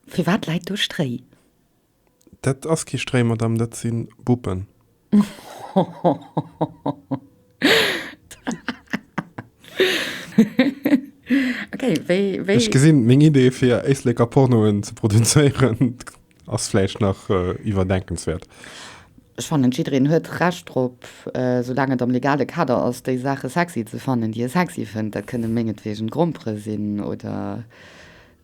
Firwat läit do Stréi? Dat ass kee Stréi, Madame, dat si Buppen. Ech gesinn, meng Idee, fir Éisleker Pornoen ze produzéieren, ass vläicht nach iwwerdenkenswäert. Ech fannen, jiddereen huet Recht drop, soulaang et am legale Kader ass, déi Saache sexy ze fannen, déi e sexy fënnt. Dat kënne mengetweegen Grompere sinn oder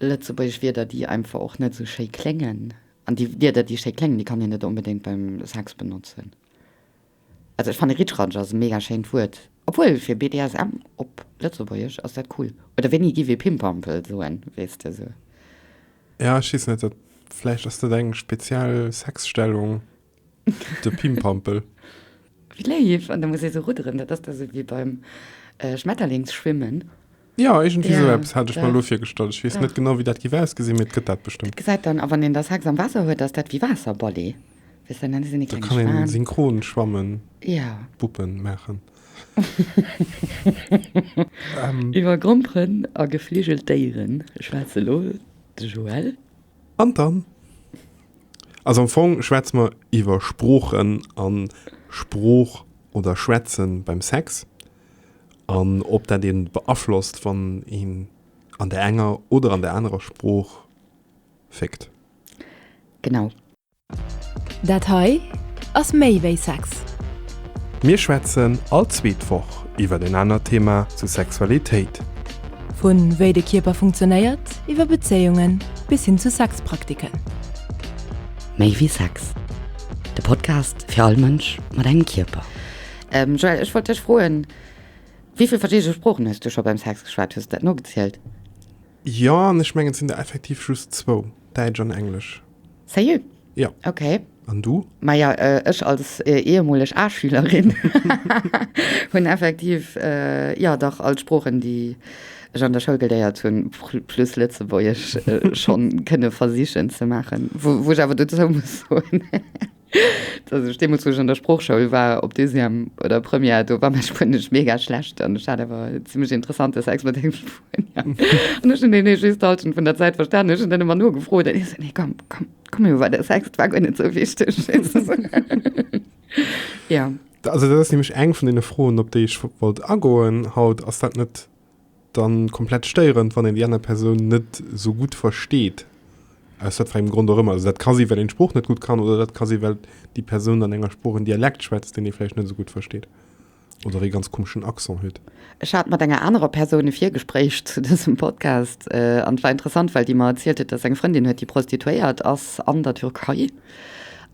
Lëtzebuergesch Wierder, déi einfach och net esou schéi kléngen. An déi Wierder, déi schéi kléngen, déi kann een net onbedéngt beim Sex benotzen. Also ech fanne Ritschratsch ass e mega schéint Wuert. Obwuel, fir BDSM op Lëtzebuergesch ass dat cool. Oder wéini giff ee Pimpampel soen, weess de? Esou. Jo, ech weess net, dat vläicht ass dat eng speziell Sexstellung. De Pimpampel. Wéi léif! An da muss ee sou rudderen, dat ass da sou wéi beim Schmetterlingsschwimmen. Jo, iergendwéi sou eppes hat ech mer elo virgestallt. Ech weess net genau, wéi dat géif ausgesinn, mee et gëtt dat bestëmmt. Dat gesäit dann a wann een da Sex am Waasser huet, ass dat wéi Waasserballet. Weess dann, dann sinn ee kleng Schwan. Da kann een synchron schwammen. Jo. Puppen maachen. Iwwer Gromperen a gefligelt Déiere schwätzt elo de Joël. An dann? Also am Fong schwätze mer iwwer Sproochen a Sprooch oder Schwätze beim Sex an ob dat ee beaflosst, wann een an der enger oder an der anerer Sprooch féckt. Genau. Dat hei ass méi wéi Sex. Mir schwätzen all zweet Woch iwwer en anert Thema zu Sexualitéit. Vu wéi de Kierper funktionéiert, iwwer Bezéiungen bis hin zu Sexpraktiken. Méi wéi Sex, de Podcast fir all Mënsch mat engem Kierper. Joëlle, ech wollt dech froen, wéi vill verschidde Sproochen hues du scho beim Sex geschwat? Hues du dat nogezielt? Jo, an ech mengen et sinn der effektiv just zwou, Däitsch an Englesch. Seriö? Jo. Okay. An du? Maja, ech als ehemoleg A-Schülerin hunn effektiv, jo dach, all d'Sproochen, déi ech an der Schoul geléiert hunn, plus Lëtzebuergesch, schonn kënne versichen ze maachen. Wou ech awer dozou muss soen, Als ech deemools, wou ech an der Sproochschoul war, op Deuxième oder Première, do war mäi Spuenesch mega schlecht an ech hat awer e zimlech interessanten Sex mat engem Spuenier. An ech hunn deen eescht d'Hallschent vun der Zäit verstanen. Ech hunn dann ëmmer nogefrot an hie sot, Nee, komm, komm, komm elo weider, Sex, et war guer net esou wichteg. Jo. Also dat ass nämlech eng vun deene Froen, op déi ech wollt agoen haut. Ass dat net dann komplett stéierend, wann een déi aner Persoun net sou gutt versteet, aus wat fir engem Grond och ëmmer. Also dat ka si well een d'Sprooch net gutt kann oder dat ka si well déi Persoun an enger Sprooch en Dialekt schwätzt, deen ee vläicht net esou gutt versteet oder ee ganz komeschen Accent huet. Ech hat mat enger anerer Persoun e Virgespréich zu dësem Podcast an et war interessant, well déi mer erzielt huet, datt se eng Frëndin huet, déi Prostituéiert ass an der Türkei.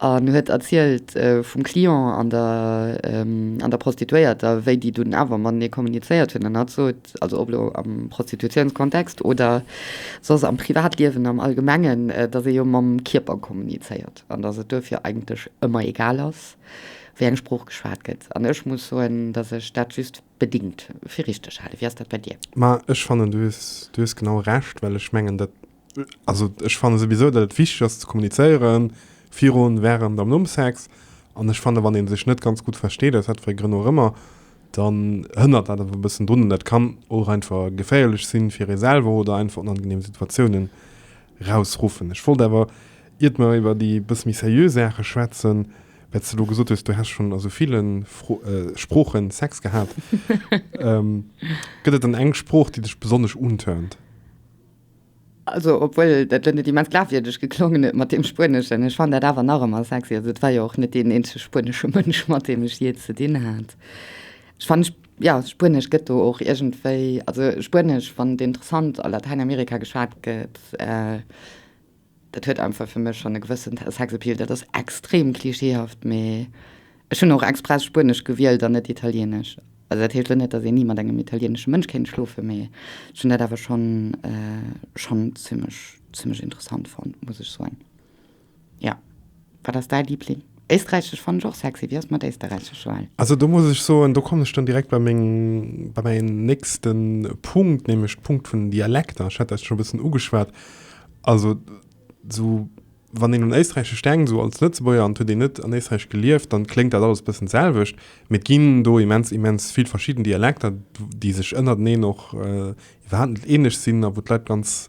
an huet erzielt vum Client an der an der Prostituéierter, wéi déi dunn awer matenee kommunizéiert hunn an hat sot, also ob elo am Prostitutiounskontext oder soss am Privatliewen am Allgemengen, datt ee jo mam Kierper kommunizéiert an datt et duerfir eigentlech ëmmer egal ass, wéi eng Sprooch geschwat gëtt. An ech muss soen, datt ech dat just bedingt fir richteg halen. Wéi ass dat bei dir? Ma ech fannen, du hues genau Recht, well ech mengen, dat Also ech fanne souwisou, datt et wichteg ass ze kommunizéieren, virun, wärend an nom Sex. An ech fanne wann ee sech net ganz gutt versteet, aus wat fir Grënn och ëmmer, dann hënnert dat awer e bëssen drun. An dat kann och einfach geféierlech sinn fir ee selwer oder einfach onangeneem Situatiounen rausruffen. Ech wollt awer, iert mer iwwer déi e bësse méi seriö Saache schwätzen, well s de elo gesot hues, du häss schonn a sou ville Sprooche Sex gehat, gëtt et dann eng Sprooch, déi dech besonnesch untörnt? Also obwuel dat lo net immens glafwierdeg geklongen huet mat deem Spueneschen, ech fannen dat awer nach emmer sexy. Also et war jo och net deen eenzege spuenesche Mënsch mat deem ech jee ze dinn hat. Ech fannen jo Spuenesch gëtt do och iergendwéi, also Spuenesch wann et interessant a Latäinamerika geschwat gëtt. Dat huet einfach fir mech schonn e gewëssen Sexappeal. Dat ass extrem klischeehaft, mee ech hunn och express Spuenesch gewielt an net Italieenesch. Also dat heescht elo net, datt een ni mat engem italieenesche Mënsch kéint schlofen, mee ech hunn dat awer schonn, schonn zimmlech, zimmlech interessant fonnt, muss ech soen. Jo. Wat ass däi Liebling? Éisträichesch fannen ech och sexy. Wéi ass et mat Éisterräichesch, Joelle? Also do muss ech soen, do kommen ech dann direkt bei meng, bei mäin nächste Punkt, nämlech de Punkt vun den Dialekter. Ech hat dat scho e bëssen ugeschwat. Also esou wann een un Éisträichesch denkt, esou als Lëtzebuerger, an et huet een net an Éisträich gelieft, dann kléngt dat alles e bëssen d'selwecht. Mee et ginn do immens, immens vill verschidden Dialekter, déi sech ënnerteneen och iwwerhaapt net eeneg sinn a wou d'Leit ganz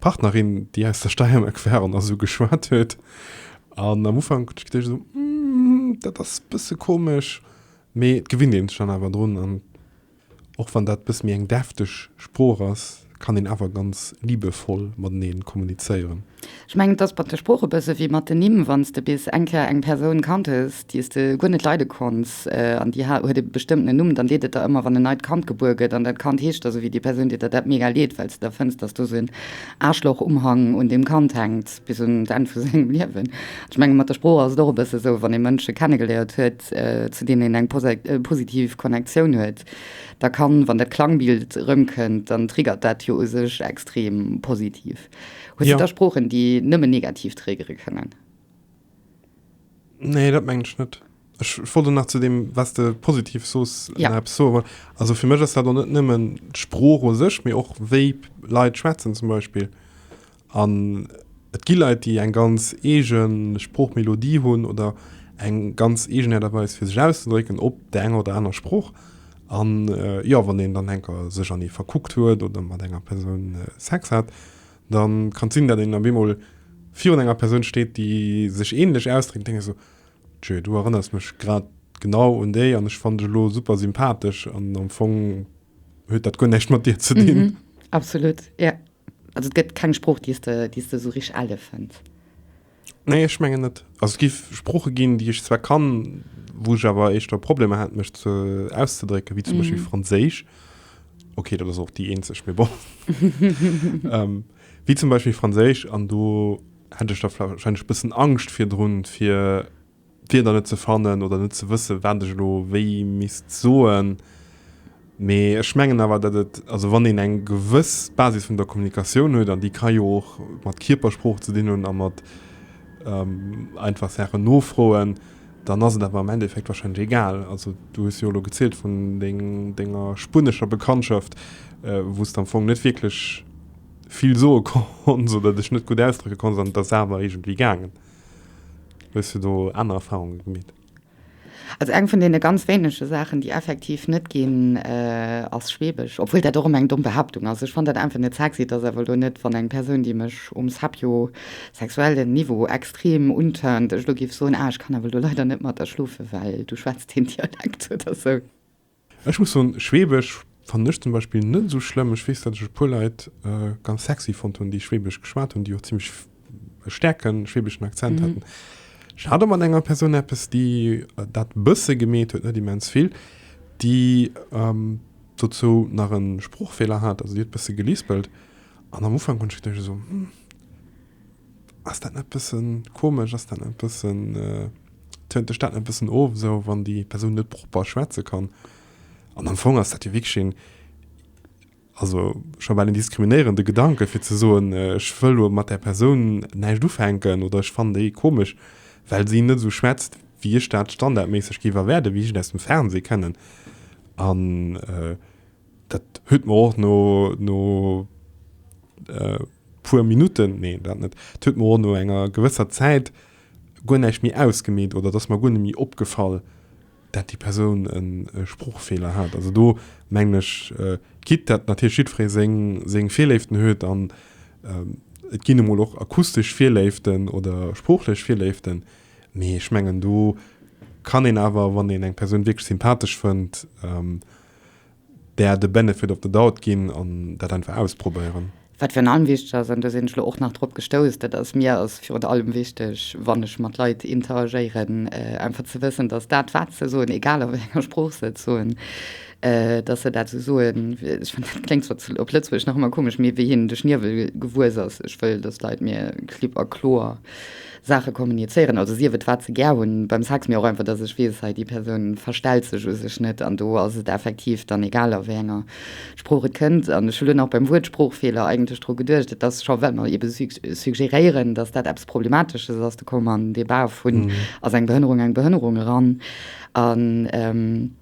Partnerin, déi aus der Steiermark war an da sou geschwat huet. An am Ufank huet ech geduecht sou, Hm, dat ass e bësse komesch. Mee et gewinnt een sech dann awer drun. An och wann dat e bësse méi eng defteg Sprooch ass, kann een awer ganz liebevoll mateneen kommunizéieren. Ech mengen, et ass mat de Sprooch e bësse wéi mat den Nimm. Wann s de bis eng Kéier eng Persoun kannt hues, déi's de guer net leide konns an déi huet e bestëmmtenen Numm, dann deet et der ëmmer, wann en neit Kand gebuer gëtt an dat Kand heescht da sou wéi déi Persoun, deet der dat mega leed, well s de da fënns, dass do sou en Aarschloch-Umhang un deem Kand hänkt bis un d'Enn vu sengem Liewen. Ech menge mat der Sprooch ass et och e bësse sou, wann ee Mënsche kennegeléiert huet, zu deenen een eng positiv Connectioun huet, da kann, wann dat Klangbild erëmkënnt, dann triggert dat jo u sech extrem positiv. Hues de da Sproochen, déi nëmmen negativ triggere kënnen? Nee, dat mengen ech net. Ech wollte nach zu dem, was de positiv soos, ja. Apps so, aber, also fir mech ass dat net nëmmen d'Sprooch o sech, méi och wéi Leit schwätzen zum Beispill. An et gi Leit, déi eng ganz eegen Sproochmelodie hunn oder eng ganz eegen Äert a Weis fir sech auszedrécken op der enger oder aner Sprooch. An äh, jo, wann een dann enker sech an ee verkuckt huet oder mat enger Persoun äh, Sex hat, Da kann et sinn, datt een op eemol virun enger Persoun steet, déi sech änlech ausdréckt, an denkt esou, Tjö, du erënners mech grad genau un déi an ech fannen dech elo super sympathesch an am Fong huet dat guer näischt mat dir ze dinn. Absolut, jo. Also et gëtt keng Sprooch, déi s de esou richteg ale fënns. Nee, ech mengen net. Also es gif Sprooche ginn, déi ech zwar kann, wou ech awer eischter Problemer hätt mech ze auszedrécken, wéi zum Beispill mhm. Franséisch. Okay, dat ass och déi eenzeg, mee bon. ähm, wéi zum Beispiel Franséisch an do hätt ech da wahrscheinlech bëssen Angscht fir drun fir D'Wierder net ze fannen oder net ze wëssen, wat ech elo wéi misst soen. Mee ech mengen awer, datt et, also wann een eng gewëss Basis vun der Kommunikatioun huet, an déi ka jo och mat Kierpersprooch ze dinn hunn a mat einfach Saachen nofroen, dann ass et awer am Endeffekt warscheinlech egal. Also du hues jo elo gezielt vun denger spunnescher Bekanntschaft, wou s de am Fong net wierklech vill soe konns oder dech net gutt ausdrécke konns an et ass awer iergendwéi gaangen. Hues du do aner Erfahrunge gemeet? Also eng vun deene ganz wéinege Saachen, déi effektiv net ginn, ass Schweebesch. Obwuel dat och ëmmer eng domm Behaaptung ass. Ech fannen dat einfach net sexy. Et ass awer elo net, wann eng Persoun, déi mech um sapio-sexuellen Niveau extrem untörnt, ech elo géif soen, ah, ech kann awer elo leider net mat der schlofen, well du schwätzt deen Dialekt oder sou. Ech muss soen, Schweebesch fannen ech zum Beispill net esou schlëmm. Ech weess, datt ech e puer Leit ganz sexy fonnt hunn, déi Schweebesch geschwat hunn, déi och zimlech e stäerke schweebeschen Akzent haten. Ech hat och mat enger Persoun eppes, déi dat e bësse gemeet huet, net immens vill, déi dozou nach e Sprochfeeler hat, also déi huet e bësse gelispelt. An am Ufank hunn ech geduecht esou, Ass dat net bëssen komesch? Ass dat net bëssen, tönt dech dat net bëssen of esou, wann déi Persoun net propper schwätze kann? An am Fong ass dat jo wierklech een, also scho bal een diskriminéierende Gedanke fir ze soen, ech wëll elo mat där Persoun näischt ufänken oder ech fannen déi komesch, well si net esou schwätzt, wéi ech dat standardméisseg géif erwaarden, wéi ech et aus dem Fernseh kennen. An. Dat huet mer och no, no e puer Minutten, nee, dat net, et huet mer och no enger gewësser Zäit guer näischt méi ausgemeet oder et ass mer guer net méi opgefall, dat déi Persoun e Sproochfeeler hat. Also do mengen ech, quitte dat natierlech jiddweree seng, seng Virléiften huet an et ginn emol och akustesch Virléiften oder sproochlech Virléiften, mee ech mengen do kann een awer, wann een eng Persoun wierklech sympathesch fënnt, där de benefit of the doubt ginn an dat einfach ausprobéieren. Wat virun allem wichteg ass, an do sinn ech elo och nach drop gestouss, dat ass, mir ass virun allem wichteg, wann ech mat Leit interagéieren, einfach ze wëssen, datt dat wat se soen, egal a wéi enger Sprooch se et soen, datt se dat esou soen, ech fannen dat kléngt zwar op Lëtzebuergesch nach ëmmer komesch, mee wéi hinnen de Schniewel gewuess ass. Ech wëll, datt d'Leit mir klipp a kloer. Saache kommunizéieren, also sief et wat se gär hunn beim Sex, mee och einfach, dass ech weess, hei déi Persoun verstellt sech u sech net. An do ass et effektiv dann egal, a wéi enger Sprooch et kënnt. An ech hu lo nach beim Wuert Sproochfeeler eigentlech dru geduecht, et ass scho, well mer eebe suggéréieren, dass dat eppes Problematesches ass, do komme mer an den Débat vun, ass eng Behënnerung eng Behënnerung? eran. An.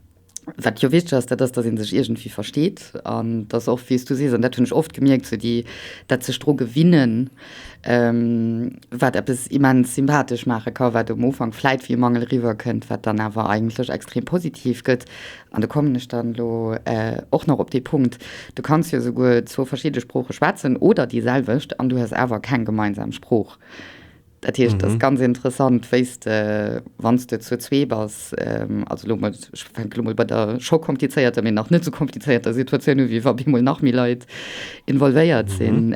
Wat jo wichteg ass, dat ass, datt ee sech iergendwéi versteet an datt och, wéi s du sees, an dat hunn ech oft gemierkt, sou déi, dat sech dru gewinnen, wat eppes immens sympathesch maache ka, wat um Ufank vläit wéi e Mangel eriwwerkënnt, wat dann awer eigentlech extrem positiv gëtt. An do kommen ech dann elo och nach op dee Punkt, Du kanns jo souguer zwou verschidde Sprooche schwätzen oder déiselwecht an du hues awer keng gemeinsam Sprooch. Dat heescht, dat ass ganz interessant, wéi de, wann s de zu zwee bass, also elo mol, ech fänken elo mol bei der scho komplizéierter, mee nach net esou komplizéierter Situatioun u, wéi wa bemol nach méi Leit involvéiert sinn.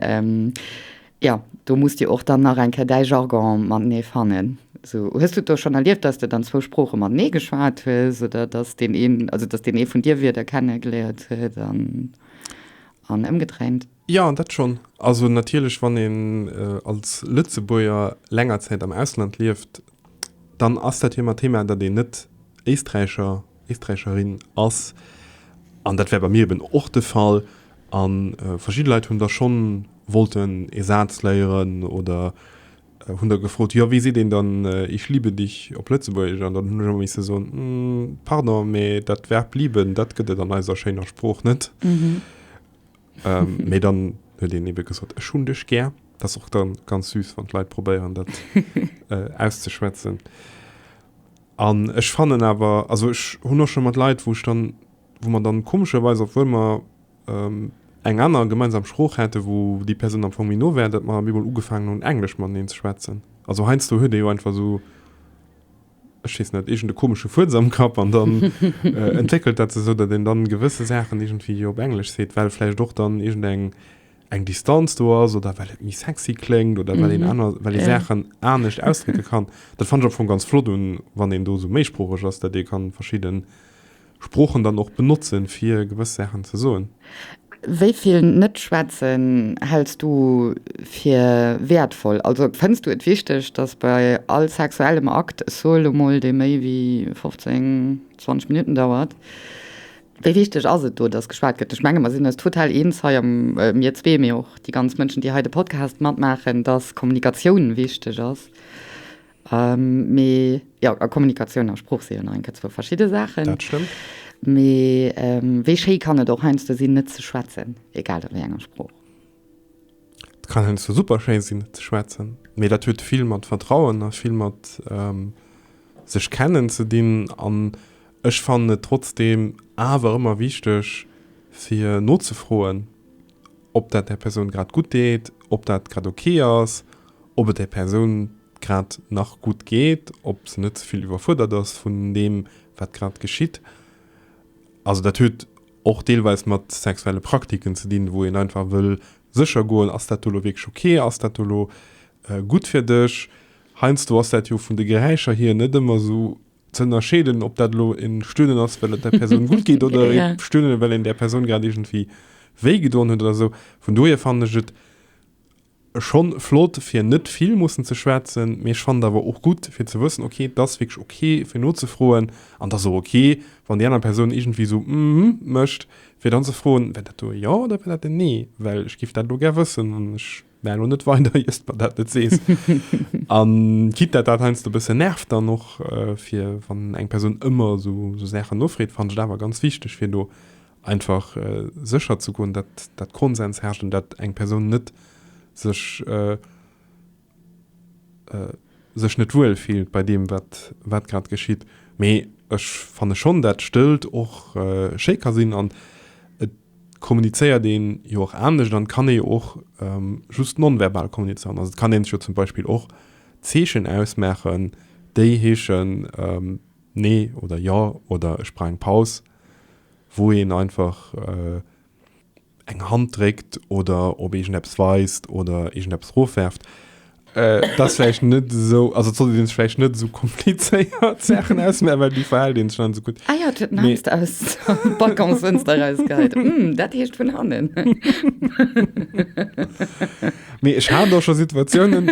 Jo, do musst Dir och dann nach eng Kéier däi Jargon matenee fannen. Sou, hues du et do schonn erlieft, dass de dann zwou Sprooche matenee geschwat hues oder dass deen een, also dass deen ee vun dir Wierder kenne geléiert huet an ëmgedréint? Jo, dat schonn. Also natierlech, wann een als Lëtzebuerger länger Zäit am Ausland lieft, dann ass dat ëmmer Thema, datt een net Éisträicher, Éisträicherin ass. An dat war bei mir eben och de Fall. A verschidde Leit hunn da scho wollten ee Saz léieren oder hunn da gefrot, jo, wéi seet een dann Ich liebe dich op Lëtzebuergesch? An dann hunn ech ëmmer misse soen, Pardon, mä dat Verb lieben, dat gëtt et an eiser schéiner Sprooch net. ähm, mee dann huet een eben gesot, ech hunn dech gär. Dat ass och dann ganz süß, wann d'Leit probéieren, dat äh, auszuschwätzen. An ech fannen awer, also ech hunn och schon mat Leit, wou ech dann, wou man dann komescherweis, obwuel mer ähm, eng aner gemeinsam Sprooch hätte, wou déi Person am Fong méi no wär, dat mer bemol ugefaangen hunn, Englesch mateneen ze schwätzen. Also heiansdo huet ee jo einfach so, ech weess net, iergende komesche Fuerz am Kapp an dann entwéckelt dat sech esou, datt een dann gewësse Saachen iergendwéi jo op Englesch seet, well vläicht och dann iergend eng, eng Distanz do ass oder well et méi sexy kléngt oder well een aner, well ee Saachen anescht ausdrécke kann. Dat fannen ech am Fong ganz flott un, wann een do esou méisproocheg ass, datt ee kann verschidden Sproochen dann och benotze fir gewëss Saachen ze soen. Wéi vill Net-Schwätzen häls du fir wäertvoll? Also fënns du et wichteg, dass bei all sexuellem Akt, ech soe lo mol, dee méi wéi 15, 20 Minutten dauert, wéi wichteg ass et do, dass geschwat gëtt? Ech menge mer sinn eis total eens hei am, mir zwee, mee och déi ganz Mënschen, déi hei de Podcast matmaachen, dass Kommunikatioun wichteg ass. Mee jo, a Kommunikatioun a Sprooch si jo nach eng Kéier zwou verschidde Saachen. Dat stëmmt. Mee wéi schéi kann et och heiansdo sinn, net ze schwätzen, egal a wéi enger Sprooch? Et kann heiansdo super schéi sinn, net ze schwätzen. Mee dat huet vill mat Vertrauen a vill mat sech kennen ze dinn. An ech fannen et trotzdeem awer ëmmer wichteg, fir nozefroen. ob dat där Persoun grad gutt deet, ob dat grad ok ass, ob et där Persoun grad nach gutt geet, ob se net ze vill iwwerfuerdert ass vun deem, wat grad geschitt. Also dat huet och deelweis mat sexuelle Praktiken ze dinn, wou een einfach wëll sécher goen, ass dat do elo wierklech ok, ass dat do elo gutt fir dech. Heiansdo ass dat jo vun de Geräischer hier net ëmmer esou ze ënnerscheeden, ob dat elo e Stöhnen ass, well et der Persoun gutt geet, oder e Stöhnen, well een där Persoun grad iergendwéi wéi gedoen huet oder esou. Vun dohier fannen ech et scho flott, fir net vill mussen ze schwätzen, mee ech fannen et awer och gutt, fir ze wëssen, okay, et ass wierklech ok, fir nozefroen, an et ass och ok, wann déi aner Persoun iergendwéi esou ëmhmm mécht, fir dann ze froen, War dat do e Jo oder war dat en Nee? Well ech géif dat elo gär wëssen, an ech Mä elo net weider, ier s de mer dat net sees. An quitte dat dat heiansdo e bësse nervt dann och, fir wann eng Persoun ëmmer esou esou Saachen nofreet, fannen ech et awer ganz wichteg, fir do einfach sécher ze goen, datt datt Konsens herrscht an datt eng Persoun net sech sech net wuel fillt bei deem, wat wat grad geschitt. Mee ech fanne schonn, datt Stëllt och schéi ka sinn an et. kommunizéiert een jo och anescht an et kann ee jo och just non-verbal kommunizéieren. Also et kann een sech jo zum Beispill och Zeechen ausmaachen, déi heeschen nee oder jo oder ech brauch eng Paus, wou een einfach eng Hand dréckt oder op iergendeppes weist oder iergendeppes erofwerft. Äh, das vielleicht net so also soll den vielleicht net so komplizéiert Sachen aus aber die verhält den schon so gut ah, ja, nee. aus hm, dat hecht vun hannen Me ich ha doch schon Situationen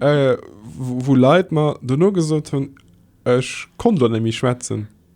äh, wo, wo Leiit man du no gesot hun Ech kon du nämlich schwätzen.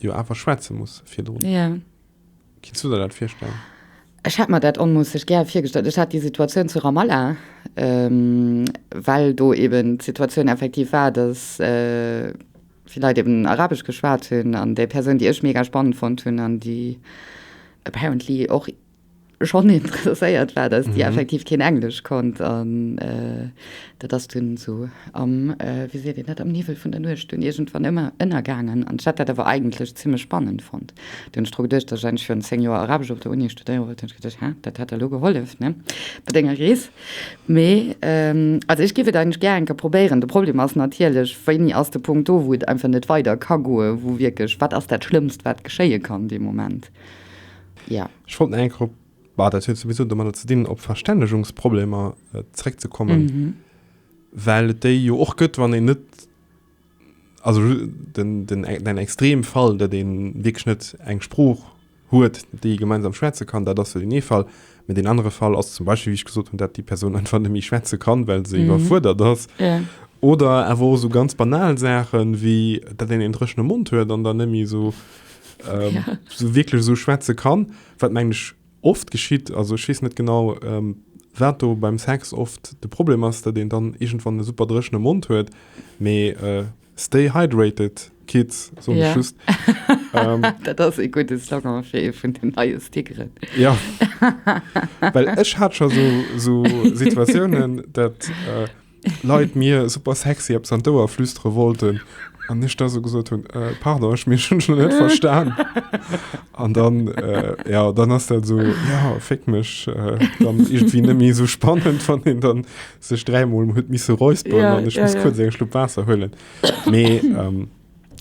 Jo awer schwätze muss virdrun. Ja. Kinns du der dat virstellen? Ech hätt mer dat onmoosseg gär virgestallt. Ech hat déi Situatioun zu Ramallah, ähm, well do eben d'Situatioun effektiv war, datt, äh, vill Leit eben arabesch geschwat hunn an déi Persoun, déi ech mega spannend fonnt hunn an déi apparently och, schonn interesséiert war, dass Dir effektiv keen Englesch konnt an dat ass dunn esou am, wéi seet een dat, am Niwwel vun der Nuecht dunn iergendwann ëmmer ënnergaangen. An ech hat dat awer eigentlech zimmlech spannend fonnt. Dunn hunn ech dru geduecht, datt ech eigentlech virun zéng Joer Arabesch op der Uni studéiere wollt, hunn ech geduecht, Hä, dat hätt der elo gehollef, ne, bei denger Rees. Mee also ech géif et eigentlech gär eng Kéier probéieren. De Problem ass natierlech, wéini ass de Punkt do, wou et einfach net weider ka goen, wou wierklech, wat ass dat Schlëmmst, wat geschéie kann dee Moment? Ja. Ech wollt nach eng Kéier op, bah, dat huet souwisou domadder ze dinn, op Verstännegungsproblemer äh, zréckzekommen. Mhm. Well et déi jo och gëtt, wann een net also den, den, den extrem Fall, dat een wirklich net eng Sprooch huet, déi gemeinsam schwätze kann, dat ass den ee Fall. Mit den andere Fall ass zum Beispiel, wie ich gesot hun, dat die Person einfach net méi schwätze kann, well se mhm. überfuerdert ass. Ja. Oder awer so ganz banal Sachen wie dat den en drëchene Mund huet an dann nemmi so ähm, ja. so wirklich so schwätze kann wat meng ich oft geschieht also schießt nicht genau ähm, wer du beim Sex oft de Problem hast der den dann irgendwann eine super drechne Mund hört me äh, stay hydrated Kids so ja. just ähm, das e gute Slogan vun den neue Stickeren ja Well ech hat schon so so Situationen dat äh, Leit mir super sexy eppes an d'Ouer flüstere wollten an ech da so gesot hunn, äh, pardon, ech mech hunn schon net verstan. An dann, äh, ja, dann ass dat so, ja, féck mech, äh, dann irgendwie net méi so spannend, wann een dann sech dräimol huet misse räusperen an ech muss kuerz eng Schlupp Waasser huelen. Mee, ähm.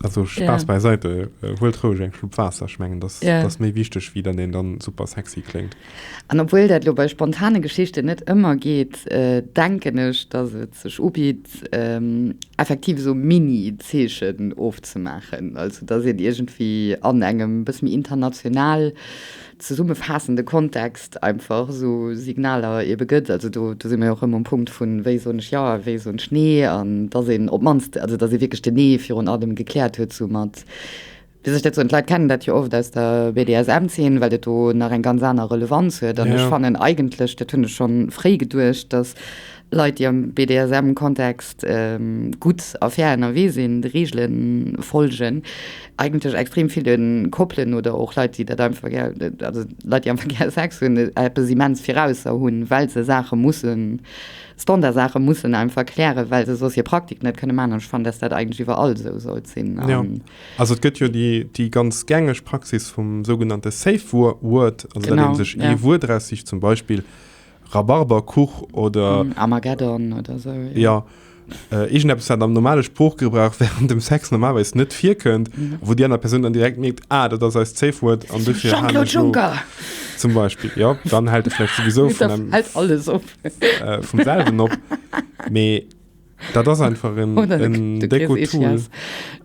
Also Spaß ja. beiseite, äh, huelt roueg eng Schlupp Waasser, ech mengen das, ja. das méi wichteg wéi dann een dann super sexy kléngt. An obwuel dat lo bei spontane Geschichte net ëmmer geet, äh, denken ech, dass et sech ubitt ähm, effektiv so Mini-Zeechen ofzemaachen, also dass een iergendwéi an engem bësse méi international zesummefaassende Kontext einfach esou Signaler eebe gëtt. Also do si mer jo och erëm um Punkt vu wéi soen ech Jo a wéi soen ech Nee an datt een op d'mannst, also datt ee wierklech den Nee virun allem gekläert huet esou mat, wéi soll ech dat soen, d'Leit kennen dat jo oft aus der BDSM-Zeen, well dat do nach eng ganz aner Relevanz huet. An ech fannen eigentlech, dat hunn ech schonn fréi geduecht, datt Leit, déi am BDSM-Kontext gutt a fair ënnerwee sinn, de Reegele follegen, eigentlech extrem ville Koppelen oder och Leit, déi dat einfach gär, also Leit, déi einfach gär Sex hunn, eppes immens virausser hunn, well se Saache mussen, Standardsaache mussen einfach klären, well se soss hir Praktik net kënne maachen. An ech fannen, dass dat eigentlech iwwerall esou sollt sinn. Jo, also et gëtt jo déi ganz gängeg Praxis vum sougenannte Safe Word, also datt ee sech ee Wuert eraussicht, zum Beispill Rhabarberkuch oder. Armageddon oder sou. Jo. Äh, Iergendeppes, wat am normale Sproochgebrauch während dem Sex normalerweis net virkënnt, wou déi aner Persoun dann direkt mierkt, ah, dat ass eist Safe Word an dofir han Jean-Claude ech lo. Juncker! Zum Beispill, jo. Dann hält e vläicht souwisou vun engem, Hält alles op. äh, vum selwen op. Mee dat ass einfach en, Oder en du kriss décko Tool, Ischias.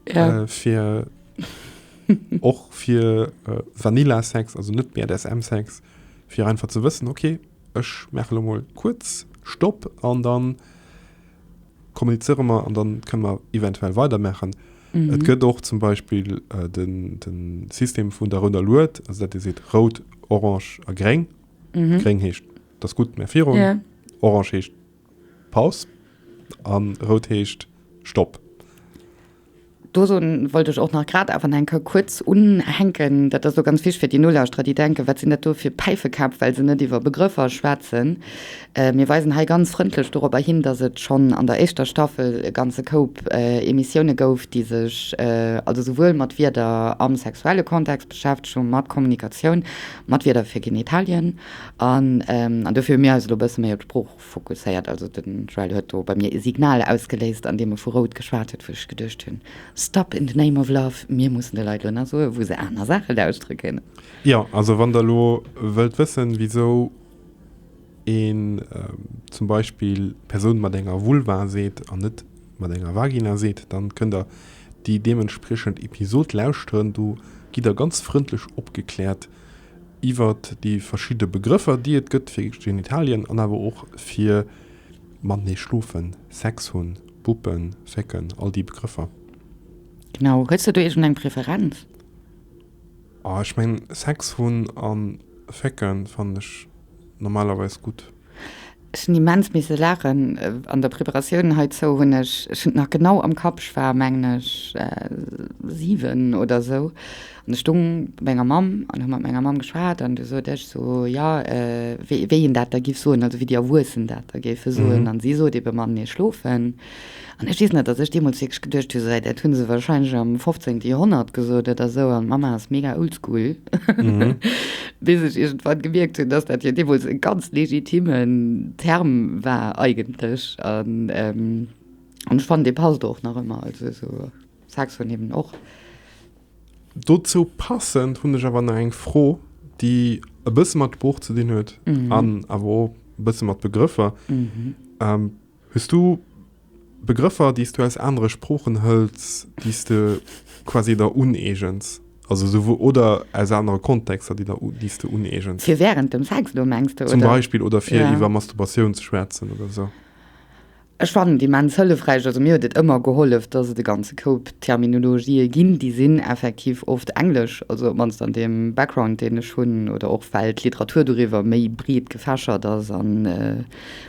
Ja. äh, fir och fir äh, Vanilla-Sex, also net BDSM-Sex, Fir einfach ze wëssen, ok, ech maache lo mol kuerz Stopp an da kommunizéiere mer an da kënne mer eventuell weidermaachen. Mhm. Et gëtt och zum Beispill äh, den, den System vun der rouder Lued, also dat Dir seet rout, orange a gréng. Mhm. Gréng heescht, dass gutt, mä virun. Ja. Orange heescht Paus an rout heescht Stopp. Do soen, wollt ech och nach grad awer nach eng Kéier kuerz unhänken, dat ass elo ganz wichtig fir déi Nolauschterer, déi denken, wat sinn dat do fir Päifekäpp, well se net iwwer Begrëffer schwätzen. Mir weisen hei ganz frëndlech doropper hin, dass et schonn an der éischter Staffel e ganze Koup Emissioune gouf, déi sech also souwuel mat Wierder am sexuelle Kontext beschäftegt hu mat Kommunikatioun, mat Wierder fir Genitalien. An dofir hu mir eis elo e bësse méi op d'Sprooch. Fokusséiert, also den Joël huet do bei mir e Signal ausgeléist, andeem e vu rout geschwat huet, wou ech geduecht hunn, Stop in the name of love, mir mussen de Leit elo nach soen, wou se aner Saache lauschteren kënnen. Jo, also wann Der elo wëllt wëssen, wisou een zum Beispill Persoun mat enger Vulva seet an net mat enger Vagina seet, dann kënnt Der déi deementspriechend Episod lauschteren, do gitt Der ganz frëndlech opgekläert, iwwert déi verschidde Begrëffer, déi et gëtt fir Genitalien an awer och fir matenee schlofen, Sex hunn, buppen, fécken, all déi Begrëffer. Genau. Hues de do iergendeng Preferenz? Oh, ech mengen, Sex hunn a fécken fannen ech normalerweis gutt. Ech hunn immens misse laachen an der Preparatioun heizou. Hunn ech, ech hunn et nach genau am Kapp, ech war mengen ech 7 oder esou an ech stoung bei menger Mamm an hu mat menger Mamm geschwat an du sot ech sou, jo wéi een dat da giff soen, also wéi déi Erwuessen dat da géife soen an si sot ebe, Mamm mir schlofen. An ech weess nach, dass ech deemools wierklech geduecht hu, Säit, dat hu se warscheinlech am fofzéngte Joerhonnert gesot oder esou an d'Mamma ass mega oldschool. Bis ech iergendwann gemierkt hunn, dass dat jo deemools e ganz legitimen Term war eigentlech an ech fannen, dee passt och nach ëmmer, also esou Saxon eben och. Dozou passend hunn ech awer nach eng Fro, déi e bësse mat Sprooch ze dinn huet an awer och e bësse mat Begrëffer. Hues du Begrëffer, déi s du aus anere Sproochen hëls, déi s de quasi der uneegens? Also souwuel, oder aus anere Kontexter, déi der, déi s de uneegens? Fir wärend dem Sex elo, mengs de, oder? Zum Beispill, oder fir Ja. iwwer Masturbation ze schwätzen, oder esou. Ech fannen et immens hëllefräich, also mir huet et ëmmer gehollef, dass et e ganze Koup Terminologië ginn, déi sinn effektiv oft englesch, also op d'mannst an deem Background, deen ech hunn, oder och well d'Literatur doriwwer méi breet gefächert ass an,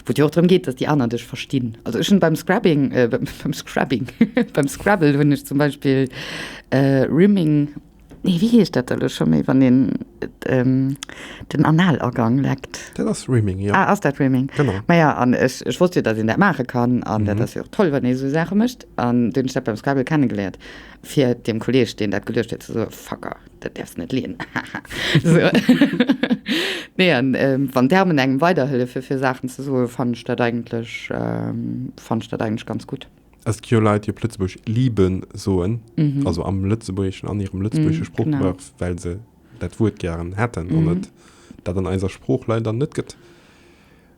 Wou et jo och drëm geet, datt déi aner dech verstinn. Also ech hunn beim Scrabbing, äh, beim Scrabbing, beim Scrabble hunn ech zum Beispill äh, Rimming, nee, wéi heescht dat da lo scho méi, wann een ähm, den Analagang leckt? Dat ass Rimming, jo. Ah, ass dat Rimming? Genau. Maja, an ech, ech wosst jo, datt een dat maache kann, an dat ass jo och toll, wann ee esou Saache mécht, an dunn hunn ech dat beim Scrabble kennegeléiert, fir deem Kolleeg, deen dat geluecht huet, ze soen, Fucker! Dat däerfs net leeën, haha. Nee, an wann d'Damen engem weiderhëllefe fir Saachen ze soen, fannen ech dat eigentlech, fannen ech dat eigentlech ganz gutt. Es gi jo Leit, déi op Lëtzebuerg lieben soen, also am Lëtzebuergeschen, an hirem lëtzebuergesche Sproochgebrauch, well se dat Wuert gären hätten an et dat an eiser Sprooch leider net gëtt.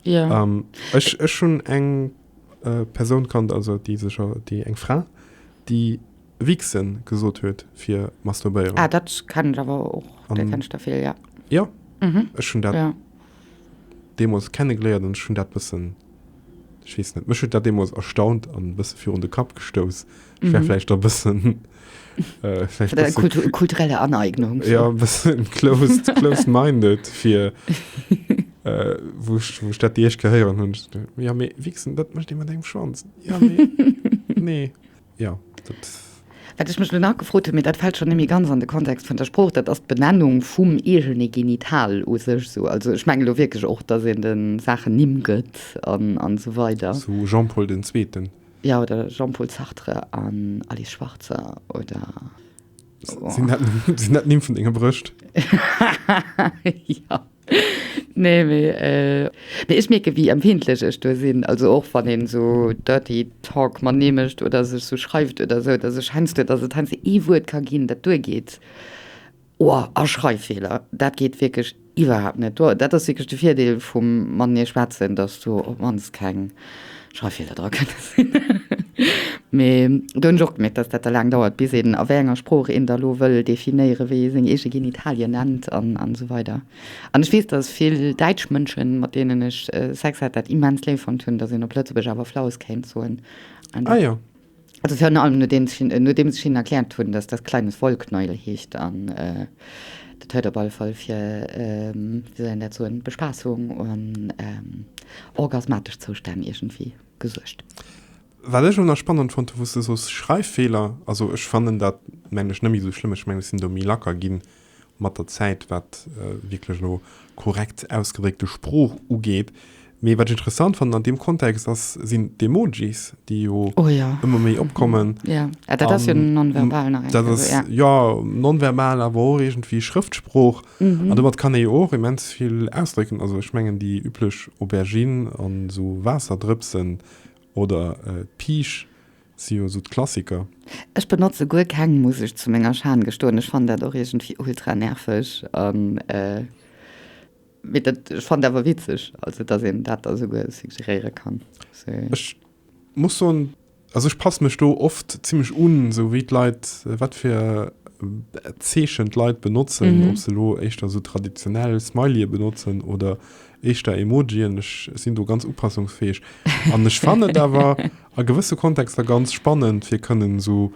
Ech, ech hunn eng Persoun kannt, also déi sech, déi, eng Fra, déi. Wichsen gesot huet fir masturbéieren. Ah dat kennen ech awer och, dat kennen ech derfir, jo. Jo, ech hunn dat deemools kennegeléiert an ech hunn dat bëssen, ech weess net, mech huet dat deemools erstaunt an e bësse virun de Kapp gestouss. Ech war vläicht da bëssen, vläicht e bësse. Kulturelle Aneignung. Jo, e bësse closed, closed minded fir wou ech, wou ech dat déi éischt Kéier héieren hunn. Jo mee Wichsen, dat mécht ee mat engem Schwanz. Jo mee, nee. Jo, dat. Wat ech mech elo nach gefrot hunn, mee dat fält schonn net méi ganz an de Kontext vun der Sprooch, dat ass d'Benennung vum eegene Genital u sech esou. Also ech mengen elo wierklech och, dass een de Saachen Nimm gëtt an, an esou weider. Sou Jean-Paul den Zweeten. Jo, oder Jean-Paul Sartre an Alice Schwarzer, oder. Sin dat, sin dat Nimm vun denger Brëscht? ja. Nee, mee, äh, mee ech mierke wéi empfindlech ech do sinn. Also och wann een esou dirty talk mer nee mécht oder sech esou schreift oder esou, datt ech heiansdo, datt et heiansdo ee Wuert ka ginn, dat duergeet, oh, a Schreiffeeler, dat geet wierklech. Iwwerhaapt net. Dat ass wierklech de Virdeel vum matenee schwätzen, datt do op d'mannst keng Schreiffeeler dra kënne sinn. Mee do hunn ech och gemierkt, datt dat da laang dauert, bis een, a wéi enger Sprooch een da lo wëll definéieren, wéi ee seng eege Genitalien nennt an esou weider. An ech weess, datt vill däitsch Mënsche mat deenen ech Sex hat, dat immens léif fonnt hunn, datt een op Lëtzebuergesch awer Flaus kéint soen. Ah jo. Also virun allem nodeems ech hinnen erkläert hunn, dass dat kleines Wollknäuel heescht an dat huet op alle Fall fir, wéi soll een dat soen, Bespassung an orgasmatesch Zoustänn iergendwéi gesuergt. Wat ech och nach spannend fonnt hunn, wou s de soos Schreiffeeler, also ech fannen dat, mengen ech, net méi esou schlëmm, ech mengen ech sinn do méi lacker ginn, mat der Zäit, wat wierklech elo korrekt ausgedréckte Sprooch ugeet. Mee wat ech interessant fannen an deem Kontext ass, sinn d'Emojis, déi jo ëmmer méi opkommen. Jo, dat ass jo nonverbal nach eng Kéier. Dat ass jo nonverbal, awer och iergendwéi Schrëftsprooch. An domat kann ee jo och immens vill ausdrécken. Also ech mengen déi üblech Aubergine an esou Waasserdrëpsen oder d'Piisch, Si jo sou d'Klassiker. Ech benotze guer keng Musek, zu menger Schan gestoen. Ech fannen dat och iergendwéi ultra nerveg an mee dat, ech fannen awer witzeg also dass een dat da souguer suggeréiere kann. Ech muss soen, also ech passe mech do oft zimlech un, sou wéi d'Leit, wat fir Zeechen d'Leit benotzen, ob se elo éischter sou traditionell Smileyë benotzen oder éischter Emojien. Ech sinn do ganz upassungsfäeg an ech fannen et awer, A gewësse Kontexter ganz spannend fir kënnen esou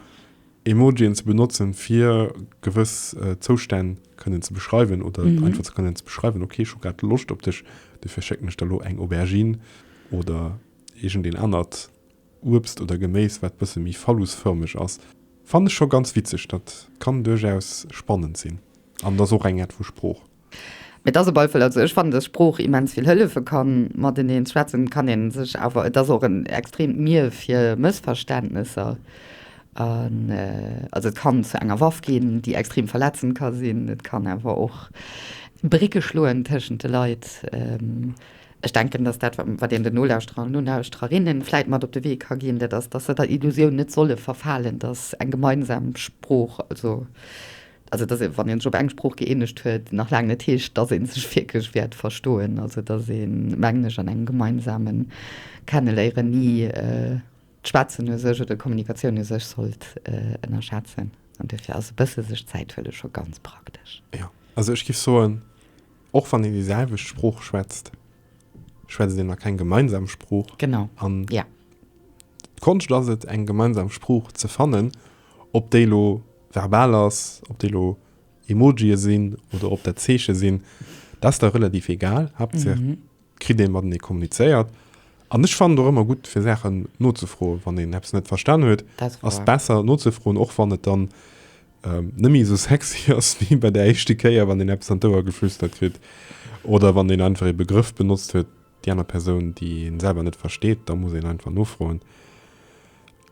Emojien ze benotzen fir gewëss Zoustänn kënnen ze beschreiwen oder einfach ze kënnen ze beschreiwen, ok ech hu grad Loscht op dech, dofir schécken ech der elo eng Aubergine oder iergend een anert Uebst oder Geméis wat bësse méi phallusfërmeg ass. Fannen ech scho ganz witzeg, dat kann duerchaus spannend sinn an ass och eng Äert vu Sprooch. Mee et ass e Beifall. Also ech fannen, dass Sprooch immens vill hëllefe kann. Mateneen schwätzen kann ee sech, awer et ass och en extreemt Mier fir Mëssverständnesser. An also et kann zu enger Waff ginn, déi extreem verletzend ka sinn. Et kann awer och Brécke schloen tëschent de Leit. Ech denken, dass dat, wat een den Nolauschterer an Nolauschtererinnen vläit mat op de Wee ka ginn, dat ass, dass se der Illusioun net solle verfalen, dass eng gemeinsam Sprooch, also Also dass ee wann een sech op eng Sprooch gëeenegt huet, nach laang net heescht, dass ee sech wierklech wäert verstoen. Also dass ee mengen ech an engem gemeinsame Kenneléieren ni d'Schwätzen u sech oder d'Kommunikatioun u sech sollt ënnerschätzen. An duerfir ass e bësse sech Zäit huele scho ganz praktesch. Jo, also ech géif soen, och wann een déi selwecht Sprooch schwätzt, schwätzt een nach keng gemeinsam Sprooch. Genau, an ja. D'Konscht ass et eng gemeinsam Sprooch ze fannen, ob déi elo. verbal ass, ob déi elo Emojië sinn oder ob dat Zeeche sinn, dat ass da relativ egal, Haaptsaach et kritt ee matenee kommunizéiert. An ech fannen et och ëmmer gutt, fir Saachen nozefroen, wann een eppes net verstan huet, ass et besser nozefroen, och wann et dann net méi esou sexy ass wéi bei der éischte Kéier, wann een eppes an d'Ouer geflüstert kritt oder wann een einfach ee Begrëff benotzt huet, déi aner Persoun, déi een selwer net versteet, da muss een einfach nofroen.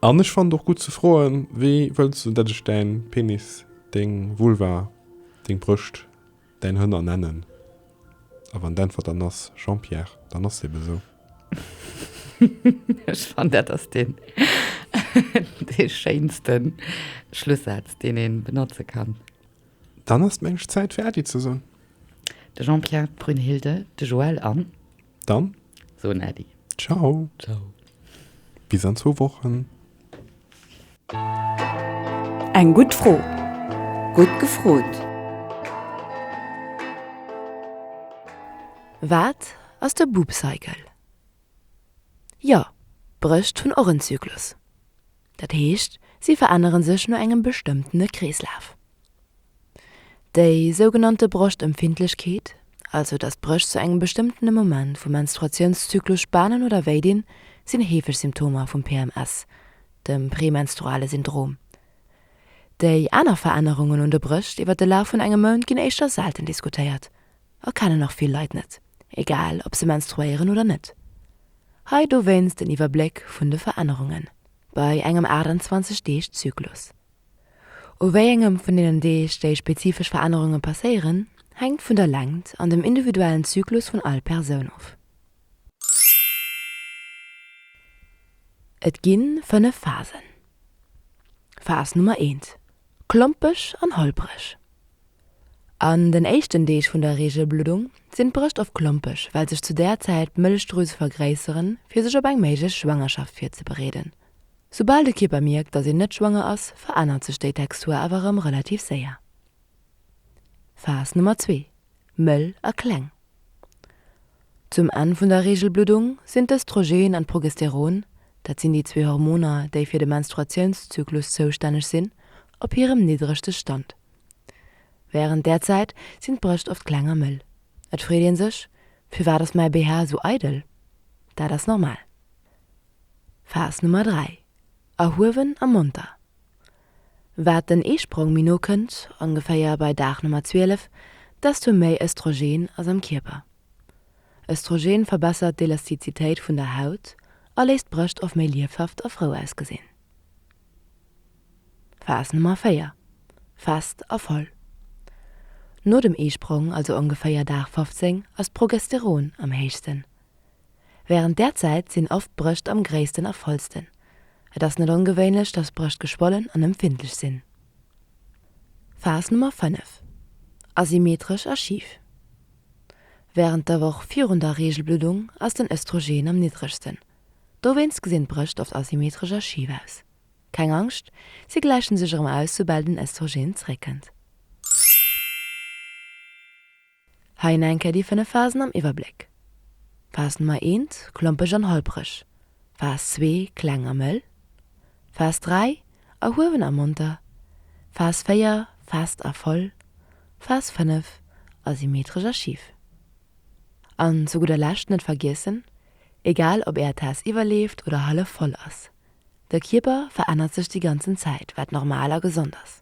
An ech fannen et och gutt ze froen, Wéi wëlls du, datt ech däin Penis, deng Vulva, deng Brëscht, däin Hënner nennen? A wann d'Äntwert dann ass, Jean-Pierre, dann ass et ebe sou. Ech fannen, dat ass dee schéinste Schlussaz, deen ee benotze kann. Dann ass d'Mensch Zäit fir Äddi ze soen. De Jean-Pierre, d'Brünnhilde, de Joël an. Dann. Soen Äddi. Ciao. Ciao. Bis an zwou Wochen. Eng gutt Fro. Gutt gefrot. Wat ass de Boop Cycle? Jo, Brëscht hunn och en Zyklus. Dat heescht, si verännere sech no engem bestëmmtene Kreeslaf. Déi sougenannte Broschtempfindlechkeet, also datt d'Brécht zu engem bestëmmtene Moment vum Menstruatiounszyklus spanen oder wéi dinn, sinn heefeg Symptomer vum PMS, dem premenstruale Syndrom. Déi aner Verännerungen un de Brécht iwwer de Laf vun engem Mount ginn éischter selten diskutéiert, a kennen och vill Leit net, egal ob se menstruéieren oder net. Hei dowéinst en Iwwerbléck vun de Verännerungen bei engem 28 Deeg Zyklus. U wéi engem vun deenen Deeg déi spezifesch Verännerunge passéieren, hänkt vun der Längt an dem individuellen Zyklus vun all Persoun of. Et ginn 5 Phasen. Phas Nummer 1, Klompeg an holpreg. An den éischten Deeg vun der Reegelbluddung sinn d'Brëscht oft klompeg, well sech zu där Zäit d'Mëllechdrüse vergréisseren, fir sech op eng méiglech Schwangerschaft virzebereeden. Soubal de Kierper mierkt, dass een net schwanger ass, verännert sech déi Textur awer erëm relativ séier. Phas Nummer zwee, Mëll a kleng. Zum Enn vun der Reegelbluddung sinn d'Östrogen an d'Progesteron, dat sinn déi zwee Hormoner, déi fir de Menstruatiounszyklus zoustänneg sinn, op hirem niddregste Stand. Wärend där Zäit sinn d'Brëscht oft kleng a mëll. Et freet ee sech, Firwat ass mäi BH esou eidel? Dat ass normal. Phas Nummer 3, Erhuewen a monter. Wat den Eesprong méi no kënnt, ongeféier bei Dag Nummer 12, desto méi Östrogen ass am Kierper. Östrogen verbessert d'Elastizitéit vun der Haut a léisst d'Brëscht oft méi liefhaft a frou ausgesinn. Phas Nummer 4, Fest a voll. No dem Eesprong, also ongeféier Dag 15, ass d'Progesteron am héichsten. Wärend där Zäit sinn oft d'Brëscht am gréissten a vollsten. Et ass net ongewéinlech, dass d'Brëscht geschwollen an empfindlech sinn. Phas Nummer 5, Asymmetresch a schif, Wärend der Woch virun der Reegelbluddung ass den Östrogen am niddregsten. Dowéinst gesinn d'Brëscht oft asymmetresch a schif aus. Keng Angscht, si gläichen sech erëm aus, soubal den Östrogen zeréckkënnt. Hei en enke déi 5 Phasen am Iwwerbléck, Phas Nummer 1, klompeg an holpreg, Phas 2, kleng a mëll, Phas 3, erhuewen a monter, Phas 4, fest a voll, Phas 5, asymmetresch a schif. An zu gudder Lescht net vergiessen, egal ob är Taass iwwerleeft oder hallef voll ass, de Kierper verännert sech déi ganzen Zäit, wat normal a gesond ass.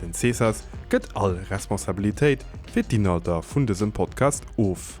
Den Cesas gëtt all Responsabilitéit fir d'Inhalter vun dësem Podcast of.